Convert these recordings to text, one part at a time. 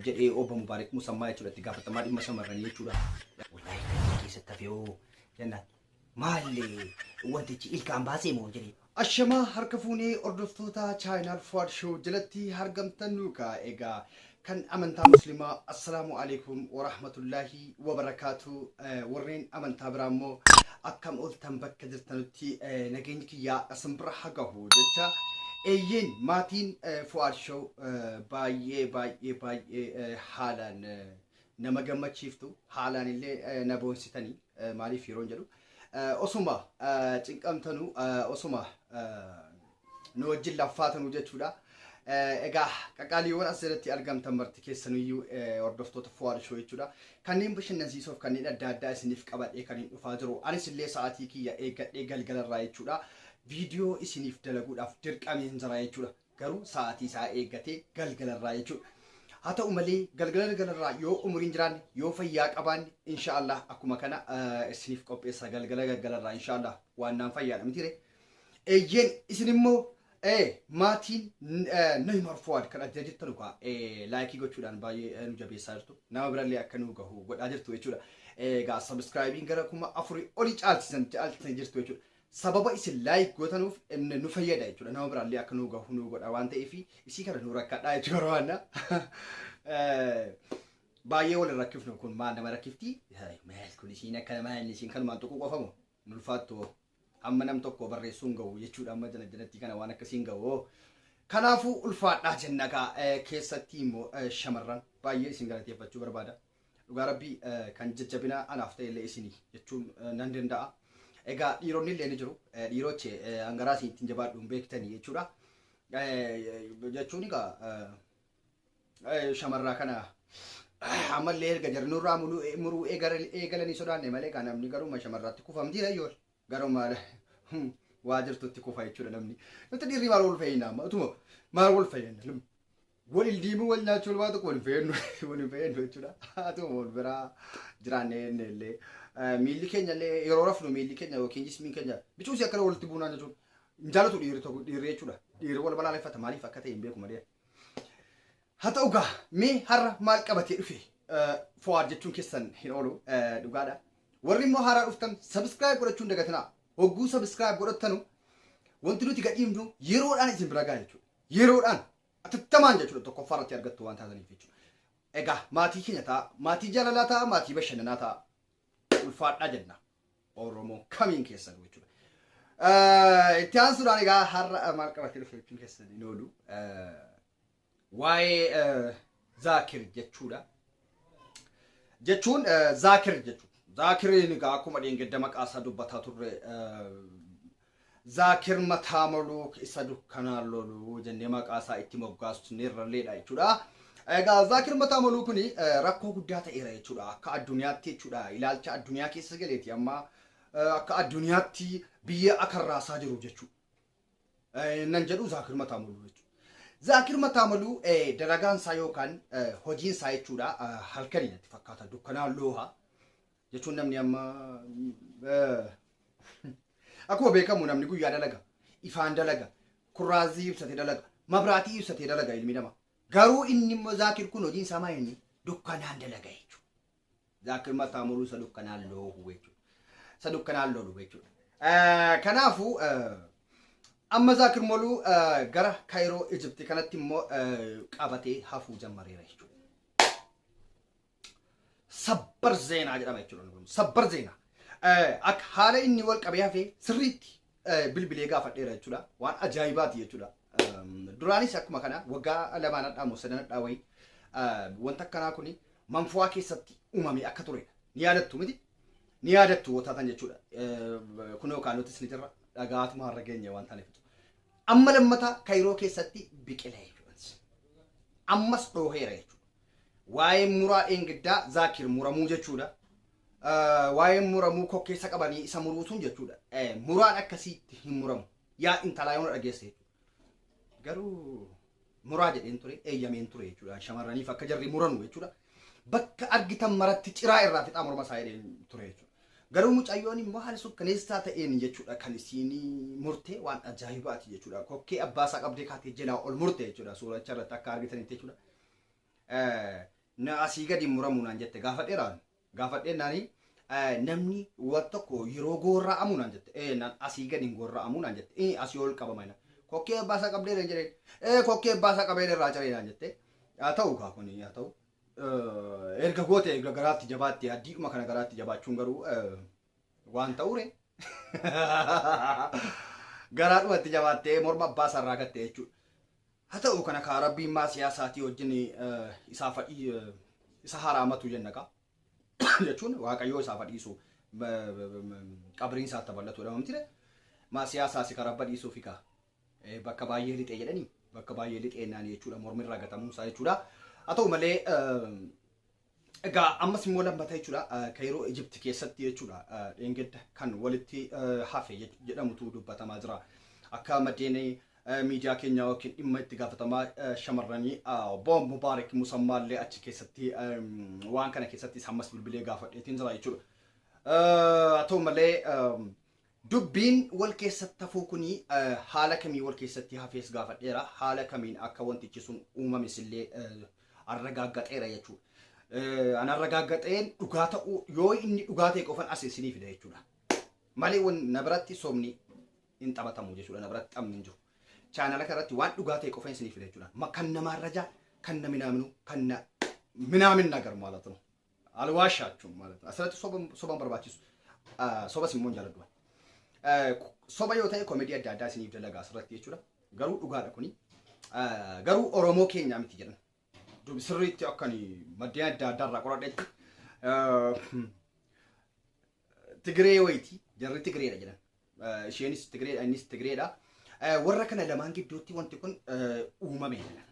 jedhee obbo Mubaarik Musammaa jechuudha itti gaafatamaa dhimma shamarranii jechuudha. Wallaahi galma keessatti hafee hoo jennaan maali wantichi ilkaan baasee moo jedhee. Ashamaa harka fuunee hordoftoota chaayinaal Fuwaad Shoo jalatti argamtan nuukaa egaa kan amantaa muslimaa assalaamu alaikum warahmatullaahi wabarakaatu warreen amantaa biraa immoo akkam ooltan bakka jirtanutti nageenyi kiyyaa isin bira haa gahu jecha eeyyeen maatiin Fu'aad Show baay'ee baay'ee baay'ee haalaan nama gammachiiftu haalaan illee na boonsitanii maaliif yeroon jedhu osuma cinqamtanu osuma nu wajjin laffaatanuu jechuudha. Eh, Egaa qaqqaaliiwwan asirratti argamtan marti keessanuyyuu eh, hordoftoota Fuwaad Shoo jechuudha. Kanneen bashannansiisoof kanneen adda addaa isiniif qabadhee kan hin dhufaa jiru. Anis illee sa'aatii kiyya eeggadhee galgalarraa jechuudha. Viidiyoo isiniif dalaguudhaaf dirqameen jira jechuudha. Garuu sa'aatii isaa eeggatee galgalarraa jechuudha. Haa ta'u malee galgala galgalarraa yoo umuriin jiraanne yoo fayyaa qabaanne inshaallah akkuma kana eh, isiniif qopheessa galgala galgalarraa inshaallah waan naan fayyaadha mitiire. Eeyyeen isin immoo ee maatiin Nohi Marfuwaad kan adda jirtanu kaa laayikii gochuudhaan baay'ee nu jabeessaa jirtu. Nama birallee akka nu gahu godhaa jirtu jechuudha. Egaa sabiskiraayibiin gara kuma afurii olii caalchisan caalchisan jirtu jechuudha. Sababa isin laayik gootanuuf nu fayyada jechuudha. Nama birallee akka nu gahu nu godha waan ta'eef isii kana nu rakkadhaa jechuu barbaanna. Baay'ee wal rakkifnu kun maal nama rakkifti? Maal kun isiin akka maal isiin kanumaan tuquu qofamu? hin ulfaattu hoo hamma nam tokko barreessuun gahu jechuudha amma jala jalatti kana waan akkasiin gahu hoo kanaafuu ulfaadhaa jenna kaa eh, keessatti immoo eh, shamarran baay'ee isin galateeffachuu barbaada dhugaa rabbii eh, kan jajjabina anaaf ta'e illee isinii jechuun eh, nan danda'a egaa dhiironni illee ni jiru Eh, dhiiroche eh, hangaraa isin ittiin jabaadhu hin beektanii jechuudha Eh, jechuun egaa eh, shamarraa kana ammallee erga jarri nurraa muruu eegalanii sodaanne malee kan namni garuma shamarratti kufa mitiidha yoo garuma waa jirtutti kufa jechuudha namni nuti dhiirri maal wal fayyina amma utuma maal wal fayyina wal ildiimuu wal nyaachuu walbaa tokko wal fayyadnu wal hin fayyadnu jechuudha atuma wal biraa jiraanne jenne illee miilli keenya illee yeroo rafnu miilli keenya yookiin jismiin keenya bicuusi akkana walitti buunaan jechuudha hin jaalatu dhiirri tokko dhiirri jechuudha dhiirri wal balaaleffata maaliif akka ta'e hin beeku malee Haa ta'u gaa mee har'a maal qabatee dhufe fo'aad jechuun keessan hin oolu dhugaadha. Warri immoo haaraa dhuftan sabiskiraayib godhachuun dagatinaa. Hogguu sabiskiraayib godhattanu wanti nuti gadhiifnu yeroodhaan isin bira ga'a jechuudha. Yeroodhaan atattamaan jechuudha tokkoffaa irratti argattu waan taataniif jechuudha. Egaa maatii keenya ta'a, maatii jaalalaa ta'a, maatii bashannanaa ta'a. Ulfaadhaa jennaa. Oromoo kamiin keessanuu jechuudha. Eh, Itti aansuudhaan egaa har'a maal qabatee dhufe jechuun keessan hin oolu. Eh, Waa'ee eh, Zaakir jechuudha. Jechuun eh, Zaakir jechuudha. Zaakiriin egaa akkuma dheengadda maqaa isaa dubbataa turre eh, Zaakir Mataamoluk isa dukkanaan lolu jennee maqaa isaa itti moggaasneerralleedha jechuudha. Egaa Zaakir Mataamoluu kun rakkoo guddaa ta'eera jechuudha. Akka addunyaatti jechuudha. Ilaalcha addunyaa keessa galeeti amma akka addunyaatti biyya akka raasaa jiru jechuudha. Nan jedhu Zaakir Mataamoluu jechuudha. Zaakir Mataamoluu dalagaan isaa yookaan hojiin isaa jechuudha halkanii natti fakkaata dukkanaan looha. jechuun namni amma akkuma beekamu namni guyyaa dalaga ifaan dalaga kurraazii ibsatee dalaga mabraatii ibsatee dalaga ilmi namaa garuu inni immoo zaakir kun hojiin isaa maal inni dukkanaan dalaga jechuudha. Zaakir mataa muluu isa dukkanaan loohu jechuudha. Isa dukkanaan loolu jechuudha. Kanaafuu amma zaakir muluu gara Kaayiroo Ijipti kanatti immoo qabatee hafuu jammareera jechuudha. sabbar zeenaa jedhama jechuudha kun sabbar zeenaa akka haala inni wal qabee hafee sirriitti bilbilee gaafadheera jechuudha waan ajaa'ibaati jechuudha duraanis akkuma kana waggaa lamaan hadhaa moo sadan hadhaa wayii wanta akkanaa kun manfuwaa keessatti uumamee akka turedha ni yaadattu miti ni yaadattu wataatan jechuudha kun yookaan nutis ni jirra dhagaatuma har'a geenye waan taaneef amma lammataa kairoo keessatti biqila jechuudha ammas dhooheera jechuudha Waa'een muraa dheengaddaa, zaakir, muramuu jechuudha. Waa'een muramuu kokkeessa qabanii isa muruu sun jechuudha. Muraan akkasiitti hin muramu. Yaa intalaa yoona dhageesse jechuudha. Garuu muraa jedheen ture, eeyyameen ture jechuudha. Shamarraniif akka jarri muranu jechuudha. Bakka argitan maratti ciraa irraa fixaa morma isaa jedheen ture jechuudha. Garuu mucayyoon immoo haala sukkaneessaa ta'een jechuudha kan isiin murte waan ajaa'ibaati jechuudha. Kokkee abbaa isaa qabdee kaatee jalaa ol murte jechuudha. Suuracha irratti akka argitanitti jechuudha. eh, na asii gadi hin muramuu naan jette gaafadheeraan gaafadheen naani eh, namni wan tokko yeroo goorra'amu naan jette ee naan asii gadi hin goorra'amu naan jette ee asii ol qabama naan kokkee baasaa qabdee naan jedheen ee kokkee baasaa qabee irraa ciree naan jette haa ta'u kaa kun haa ta'u Eh, erga goote erga garaatti jabaatti addiidhuma kana garaatti jabaachuun garuu eh, waan ta'uure garaadhumatti jabaattee morma abbaa sarraa gatte jechuudha. Ha ta'u kana kaa rabbiin maasiyaa isaatii wajjin isaa fadhii isa haraamatu jenna kaa jechuun waaqayyoo isaa fadhiisu qabriin isaa itti bal'atu jedhama mitire maasiyaa isaasi ka rabba dhiisuu fi kaa bakka baay'ee lixee jedhanii bakka baay'ee lixee naan jechuudha mormi irraa gatamuun isaa jechuudha haa ta'u malee Egaa ammas immoo lammata jechuudha Kayiroo Ijipti keessatti jechuudha dheengadda kan walitti hafe jedhamutu dubbatamaa jira. Akka maddeen miidiyaa keenya yookiin dhimma itti gaafatamaa shamarranii obbo Mubaarik Musammaa illee achi keessatti waan kana keessatti ammas bilbilee gaafadheetiin jira jechuudha. Haa ta'u malee Dubbiin wal keessatti hafuu kuni haala kamiin wal keessatti hafees gaafadheera. Haala kamiin akka wantichi sun uumames illee arragaaggaxeera jechuudha. An arragaaggaxeen dhugaa ta'uu yoo inni dhugaa ta'e qofan as isinii fida jechuudha. Malee wan na biratti sobni hin taphatamu jechuudha. Na biratti taphni hin jiru. Chaanala kanarratti waan dhugaa ta'e qofan isinii fida jechuudha. Kan na maarrajaa, kan na minaaminu, kan na minaaminna garu maalatuma. Alwaashaachum ማለት asirratti soba soba hin barbaachisu Ah, sobas immoo hin jaaladhu ani. Eh, ku- soba yoo ta'e komedii adda addaa isiniif dalagaa asirratti jechuudha garuu dhugaadha kuni Ah, garuu oromoo keenyaa miti jedhan Dub- sirriitti akka ani maddeen adda addaa irraa qoradhetti Ah, Tigiree wayiiti jarri Tigireedha jedhan. Eh, Isheenis Tigireedha innis Tigireedha. Eh, Warra kana lamaan gidduutti wanti kun eh, uumame jedhan.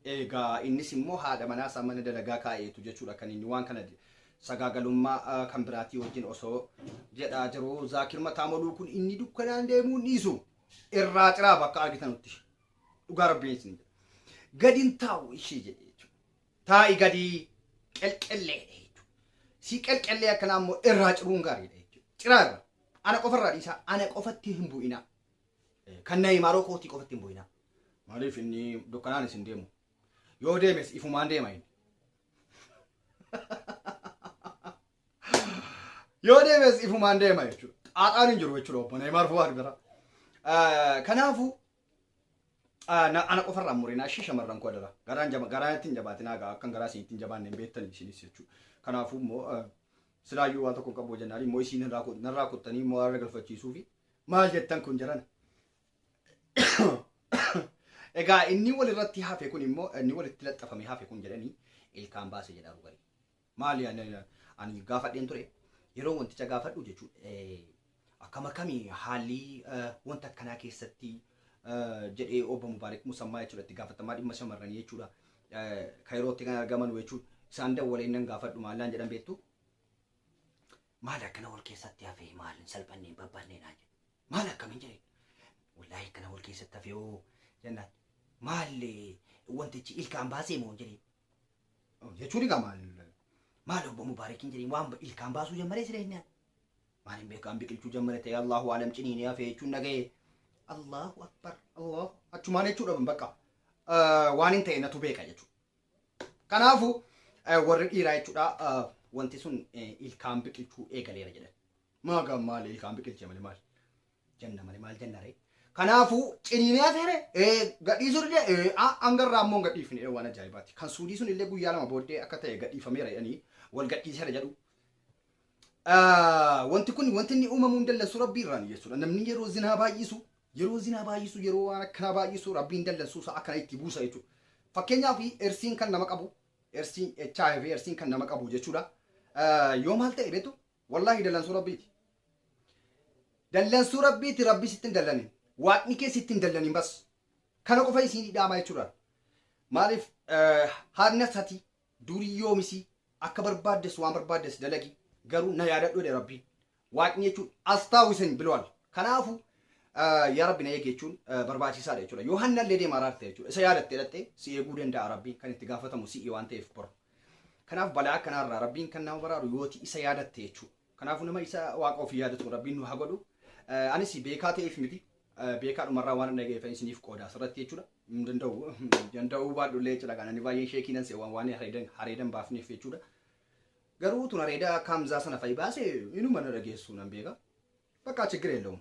Egaa innis immoo haadha manaa isaa mana dalagaa kaa'eetu jechuudha kan inni waan kana sagaagalummaa eh, kan biraatii wajjin osoo jedhaa jiru Zaakir Mataamoluu kun inni dukkanaan deemuu hin dhiisu irraa ciraa bakka argitanutti dhugaa rabbiin isin jedha. Gadi hin taa'u ishee jedhe jechuudha. taa'i gadi qelqellee dha jechuudha. Si qelqellee akkanaa immoo irraa ciruun gaarii dha jechuudha. Ciraa irra ana qofa irraa dhiisaa ana qofatti hin bu'inaa. Kan na himaaroo kootii qofatti hin bu'inaa. Maaliif inni dukkanaan isin deemu? Yoo deemes ifumaan deema inni. Yoo deemes ifumaan deema jechuudha. Xaaxaan hin jiru jechuudha obbo Neeymaar Fuwaad bira. Kanaafuu Ah, na- ana qofa irraa murinaa ishii shamarran koo adara garaan jaba garaa ittiin jabaatinaa gaa akkan garaa isin ittiin jabaanne hin beektani isinis jechuu kanaafuu immoo ah, silaayyuu waan tokko hin qabu jennaan immoo isiin irraa kut- narraa kuttanii immoo har'a galfachiisuu fi maal jettan kun jarana egaa inni wal irratti hafe kun immoo inni walitti laxxafame hafe kun jedhanii ilkaan baase jedhaa dhugarii Maali ani ani gaafadheen ture yeroo wanticha gaafadhu jechuun eh, akkam akkami haalli eh, wanta akkanaa keessatti eh, jedhee obbo Mubaarik Musammaa jechuudha itti gaafatamaa dhimma shamarranii jechuudha eh, Kaayirootti kan argaman jechuun isaan dawwaleen nan gaafadhu maallaan jedhan beektu maal akkana wal keessatti hafee maal hin salphanneen babbanneen haa jedhu maal akkamiin jedheen wallaahi akkana wal keessatti hafee hoo jennaan maallee wantichi ilkaan baasee moo jedheen jechuun egaa maal maal obbo Mubaarakiin jedhee waan ilkaan baasuu jammaree siree inni maal hin beekaan biqilchuu jammare ta'e Allahu alam ciniinee hafee jechuun dhaga'e Allahu akbar Allahu achumaan jechuudha bakka waan hin ta'e natu beeka jechuudha. Kanaafu warri dhiiraa jechuudha wanti sun ilkaan biqilchuu eegaleera jedhan. Maagaan maal ilkaan biqilchee malee maal? Janna male maal janna ree? Kanaafuu ciniinee hafee ree? Ee gadhiisuu didee? Ee a hanga irraa ammoo hin gadhiifne ee waan ajaa'ibaati. Kan suudii sun illee guyyaa lama booddee akka ta'e gadhiifameera jedhanii wal gadhiiseera jedhu. Ah, Wanti kun wanti inni uumamuu hin dallansu rabbii irraan jechuudha. Namni yeroo zinaa baay'isu yeroo zinaa baay'isu yeroo waan akkanaa baay'isu rabbiin dallansuu isaa akkana itti buusa jechuudha. Fakkeenyaaf ersiin kan nama qabu ersiin HIV ersiin kan nama qabu jechuudha. Ah, Yoo maal ta'e beektu Wallahi dallansuu rabbiiti. Dallansuu rabbiiti rabbi sitti hin dallanin. Waaqni kee sitti hin dallanin bas. Kana qofa isiin hidhaamaa jechuudha. Maaliif haadna sati durii yoomisi akka barbaaddes waan barbaaddes dalagi garuu na yaadadhu jedhe rabbiin. Waaqni jechuun astaawisan biloal. Kanaafu yaa rabbi na eegi jechuun barbaachisaadha jechuudha. Yoo hanna illee deema araarte jechuudha. Isa yaadatte dhatte si eeguu danda'a rabbiin kan itti gaafatamu si'i waan ta'eef bor. Kanaaf balaa akkanaa irraa Rabbiin kan nama baraaru yooti isa yaadatte jechuudha. Kanaafuu nama isa waaqa ofii yaadatu Rabbiin nu haa godhu. Eh, Anis beekaa ta'eef miti eh, beekaa dhumarraa waan dhaga'eefan isiniif qooda asirratti jechuudha. Hin danda'u danda'uu baadhullee jechuudha. Kan ani baay'een sheekii nan se'u waan waan hareedan hareedan baafneef jechuudha. Garuu tun hareeda akka Hamzaa sana fa'i baase inuma na dhageessu nan beeka. Bakka ችግር የለውም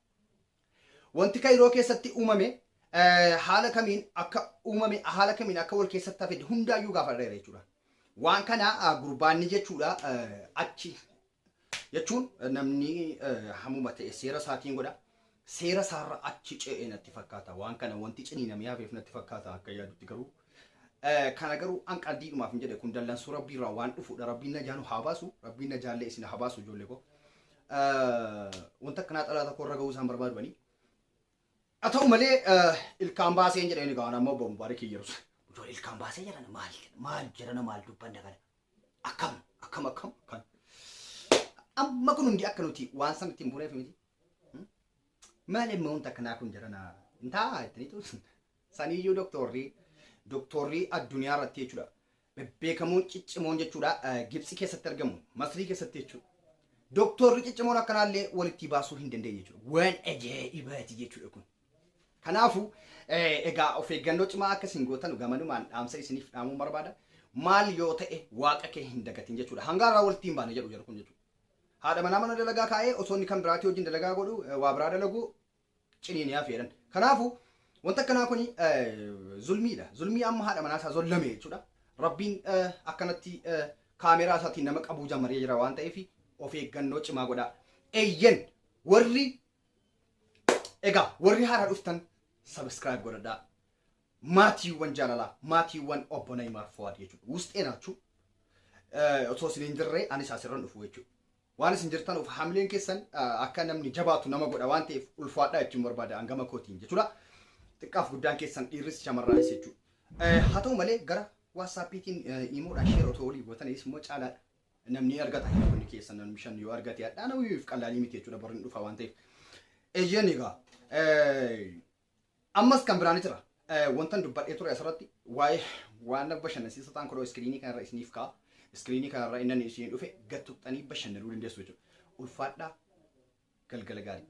Wanti Kayiroo keessatti uumame haala kamiin akka uumame haala kamiin akka wal keessatti hafe hundaayyuu gaafadheera jechuudha. Waan kana gurbaanni jechuudha achi jechuun namni hamuma ta'e seera isaatiin godha. Seera isaarra achi ce'e natti fakkaata. Waan kana wanti ciniinamee hafeef natti fakkaata akka yaadutti garuu Kana garuu an qaldiidhumaaf hin jedhe kun dallansuu rabbii irraa waan dhufuudha rabbiin najaa nu haa baasu rabbiin najaallee isin haa baasu ijoollee koo wanta akkanaa xalaata koo irra ga'uu isaan barbaadu banii haa ta'u malee ilkaan baasee hin jedheen egaa amma obbo Mubaarik hin yerus ijoollee ilkaan baasee jedhana maal maal jedhana maal dubbanna kana akkam akkam akkam kan amma kun hundi akka nuti waan san ittiin buuneef miti maal immoo wanta akkanaa kun jedhana hin taa'aa ittanii ta'u Saniyyuu doktoorri doktoorri addunyaa irratti jechuudha. Bebbeekamoon ciccimoon jechuudha Gibxi keessatti argamu Masrii keessatti jechuudha. Doktoorri ciccimoon akkanaallee walitti baasuu hin dandeenye jechuudha. Waan ajaa'ibaati jechuudha kun. Kanaafuu egaa of eeggannoo cimaa akka isin gootan gamanumaan dhaamsa isiniif dhaamuun barbaada. Maal yoo ta'e waaqa kee hin dagatin jechuudha. Hanga irraa walitti hin baane jedhu jedhu kun jechuudha. Haadha manaa mana dalagaa kaa'ee osoo inni kan biraatii wajjin dalagaa godhu waa biraa dalagu ciniiniyaa feeran. Kanaafu wanti akkanaa kuni zulmiidha. Zulmii amma haadha manaa isaa zollame jechuudha. Rabbiin akkanatti kaameeraa isaatiin nama qabuu jammaree jira waan ta'eef of eeggannoo cimaa godhaa. Eeyyen warri egaa warri haaraa dhuftan subscribe godhadhaa. Maatiiwwan jaalalaa, maatiiwwan obbo Nayimaar Fowaad jechuudha. Wusxee naachuu osoo isin hin jirre anis asirran dhufu jechuudha. Waan isin jirtanuuf hamileen keessan akka namni jabaatu nama godha waan ta'eef ulfaadhaa jechuun barbaada an gama kootiin jechuudha. Xiqqaaf guddaan keessan dhiirris shamarraanis jechuudha. Haa ta'u malee gara waatsaappiitiin iimoodhaan sheer otoo olii gootaniis immoo caalaadha. Namni argata hiriyoonni keessan namni shan yoo argate hadhaa nama wiif qallaalii miti jechuudha borri hin dhufa waan ta'eef. Eeyyeen egaa Ammas kan biraa ni jira. Eh, Wantan dubbadhee ture asirratti waa'ee waan bashannansiisa ta'an kunoo iskiriinii kanarra isiniif ka'a. Iskiriinii kanarra inni isin dhufe gad tuqxanii bashannanuu dandeessu jechuudha. Ulfaadhaa galgala gaarii.